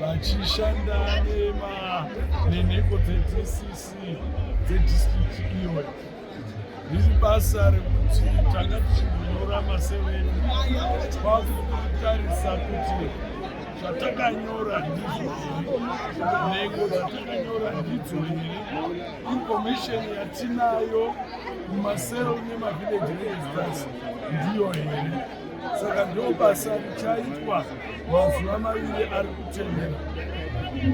vachishanda nema nenhengo dzeDCC dzedistrict iyoyo riri basa rekuti tanga tichinyora maseveni kwakutarisa kuti zvatakanyora ndizvo nhengo dzatakanyora ndidzo here information yatinayo mumasero nemavillageregistrars ndiyo here saka ndoo basa richaitwa mazuva maviri ari kutendera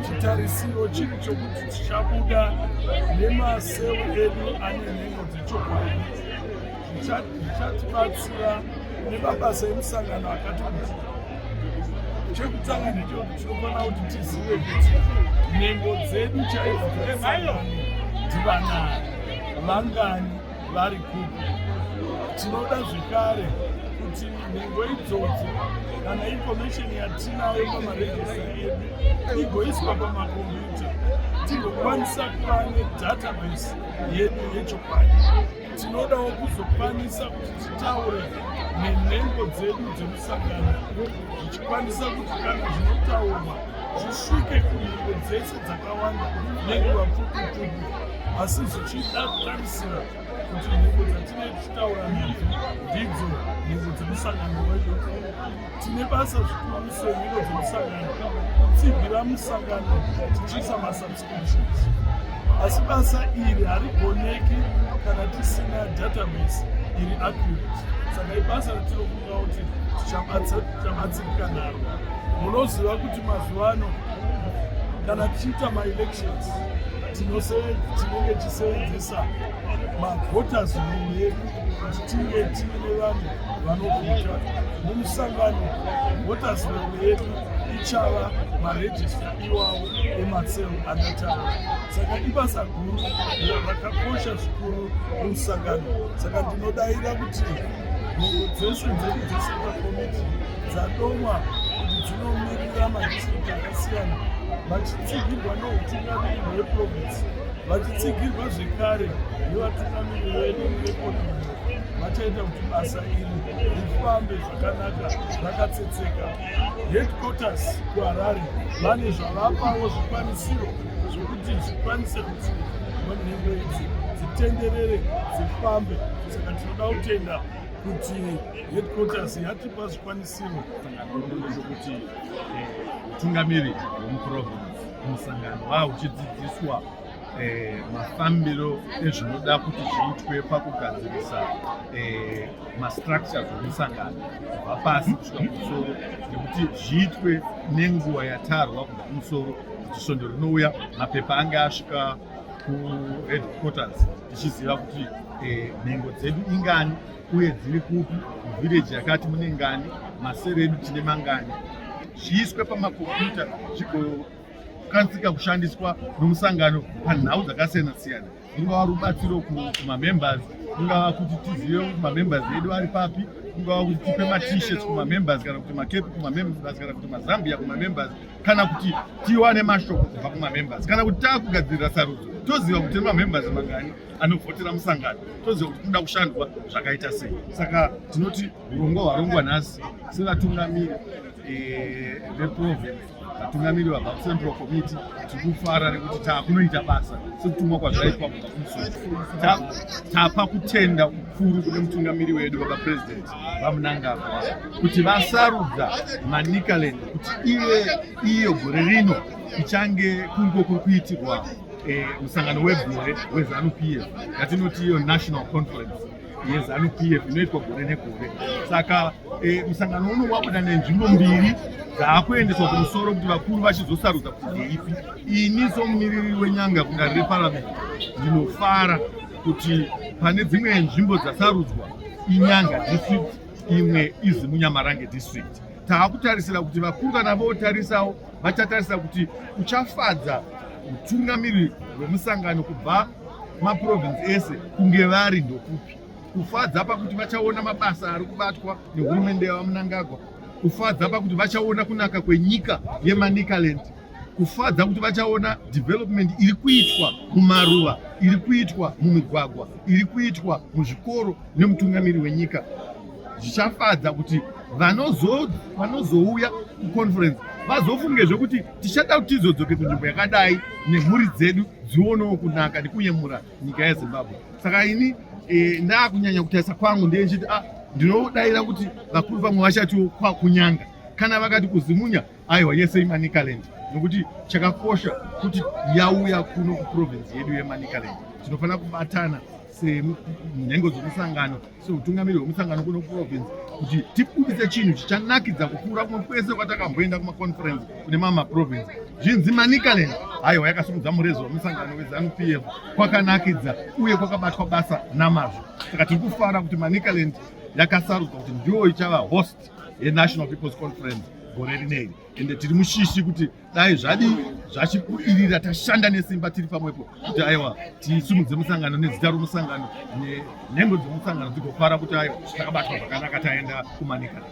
chitarisiro chiri chokuti tichabuda nemaseu edu ane nhengo dzechokwadi zvichatibatsira nemabasa emusangano akati kuti chekutanga ndichokuti tinofanira kuti tizive kuti nhengo dzedu chaidzo dzemusangano ndivanani vangani vari kupi tinoda zvekare kuti nhengo idzodzo kana information yatinayo pamarejista edu igoiswa pamakombiyuta tigokwanisa kuva nedatabase yedu yechokwadi tinodawo kuzokwanisa kuti titaure nenhengo dzedu dzemusangano zvichikwanisa kuti kana zvinotaurwa zvisvike kunhengo dzese dzakawanda nenguva pfupi pfupi asi zvichida kutarisira kuti nhengo dzatine tichitaura nadzo ndidzo nhengo dzemusangano wedu tine basa zvikuru senhengo dzemusangano kutsigira musangano tichiisa masubscriptions asi basa iri harigoneki kana tisina database iri accurate saka ibasa ratinofunga kuti tichabatsirika naro munoziva kuti mazuva ano kana tichiita maelections tinenge tichiseenzesa mavotas rule yedu kuti tinge tiine vanhu vanovhota mumusangano votas rule yedu ichava marejista iwawo emasel anataura saka ibasa guru rakakosha zvikuru mumusangano saka ndinodaira kuti Nhengo dzese dzedu dzeCentral Committee dzadomwa kuti dzinomirira madistrict akasiyana vachitsigirwa noutungamiri hweprovince vachitsigirwa zvekare nevatungamiri vedu vekonomi vachaita kuti basa iri rifambe zvakanaka rakatsetseka headquarters kuharare vane zvavapawo zvikwanisiro zvokuti zvikwanise kuti nhengo idzi dzitenderere dzifambe Toda kutenda kuti headquarters yatipa zvikwanisiro zvekuti utungamiri eh, hwemuprovince musangano wava uchidzidziswa eh, mafambiro ezvinoda kuti zviitwe pakugadzirisa eh, mastructures emusangano kubva pasi kusvika kumusoro nekuti zviitwe nenguva yatarwa kubva kumusoro kuti svondo rinouya mapepa ange asvika kuheadquarters tichiziva kuti eh, nhengo dzedu ingani uye dziri kupi village yakati mune ngani masere edu tine mangani zviiswe pamakompyuta zvigokanzika kushandiswa nomusangano panhau dzakasiyana siyana rungava rubatsiro kumamembers kungava kuti tizive kuti mamembers edu ari papi kungava kuti tipe matishets kumamembers kana kuti makepi kumamembers kana kuti mazambia kumamembers kana kuti tiwane mashoko kubva kumamembers kana kuti taakugadzirira sarudzo toziva kuti nemamembers mangani anovhotera musangano toziva kuti kunoda kushandwa zvakaita sei saka tinoti urongwa hwarongwa nhasi sevatungamiri eh, veprovince vatungamiri vabva kucentral committee tikufara nekuti taakunoita basa sekutumwa kwazvaitwa kubva kumusoro tapa kutenda kukuru kune mutungamiri wedu baba president vamunangagwa kuti vasarudza manicaland kuti ive iyo gore rino ichange kungo kuri kuitirwa eh, musangano e, wegore wezanu p f yatinoti iyo national conference yezanu p f inoitwa gore negore saka eh, musangano uno wabuda nenzvimbo mbiri dzaakuendeswa kumusoro kuti vakuru vachizosarudza kuti ndeipi ini somumiriri wenyanga kudare reparamende ndinofara kuti pane dzimwe nzvimbo dzasarudzwa inyanga district imwe izi munyamarange district taakutarisira kuti vakuru kana votarisawo vachatarisa kuti uchafadza utungamiri hwemusangano kubva maprovince ese kunge vari ndokupi kufadza pakuti vachaona mabasa ari kubatwa nehurumende yavamunangagwa kufadza pakuti vachaona kunaka kwenyika yemanicaland kufadza kuti vachaona development iri kuitwa mumaruva iri kuitwa mumigwagwa iri kuitwa muzvikoro nemutungamiri wenyika zvichafadza kuti vanozouya kuconference vazofunge zvekuti tichada kuti tizodzoke kunzvimbo yakadai nemhuri dzedu dzionewo kunaka nekuyemura nyika yezimbabwe saka ini e, ndakunyanya kutarisa kwangu ndiye ndichiti a ah, ndinodaira kuti vakuru vamwe vachatiwo kwakunyanga kana vakati kuzimunya aiwa yese imanicaland nokuti chakakosha kuti yauya kuno kuprovinzi yedu yemanicaland tinofanira kubatana senhengo dzomusangano seutungamiri hwemusangano kuno kuprovinzi kuti tibudise chinhu chichanakidza kupfuura kumwe kwese kwatakamboenda kumaconference kune mamwe maprovinzi zvinzi manicaland haiwa yakasimudza murezo wemusangano wezanu p f kwakanakidza uye kwakabatwa basa namazvo saka tiri kufara kuti manicaland yakasarudzwa kuti ndiyo ichava host yenational peoples conference gore rinei ende tiri mushishi kuti dai zvadii zvachibudirira tashanda nesimba tiri pamwepo kuti aiwa tisumudze musangano nezita romusangano nenhengo dzemusangano dzigofara kuti aiwa takabatwa zvakanaka taenda kumanikale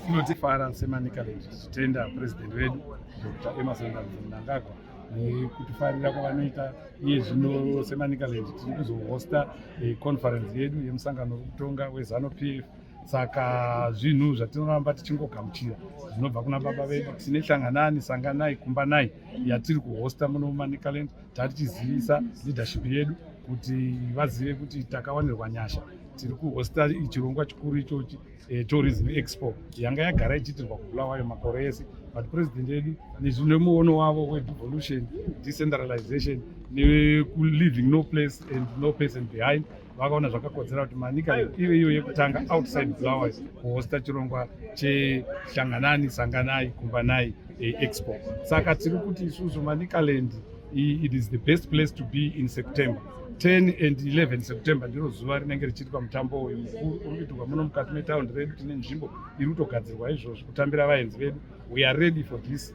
tinotifara semanikale tichitenda purezidendi vedu dr emerson mnangagwa nekutifarira kwavanoita iye zvino semanikale tiri kuzohosta eh, conference yedu yemusangano wekutonga wezanu p f saka zvinhu zvatinoramba tichingogamuchira zvinobva kuna baba vedu tine hlanganani sanganai kumbanai yatiri kuhosta muno mumanicaland tatichizivisa leadership yedu kuti vazive kuti takawanirwa nyasha tiri kuhosta chirongwa chikuru ichochi eh, tourism expo yanga yagara ichiitirwa kubulawayo makore ese but president yedu nezvinemuono wavo wedevolution decentralization nekuliving no place and no person behind vakaona zvakakodzera kuti manika ive iyo yekutanga outside bulawayo kuhosta chirongwa chehlanganani sanganai kumbanai eh, expo saka tiri kuti isusu manicaland it is the best place to be in september 10 and 11 september ndiro zuva rinenge richiitwa mutambo uyu mukuru uri kuitirwa muno mukati metaundi redu tine nzvimbo iri kutogadzirwa izvozvo kutambira vaenzi vedu we are ready for this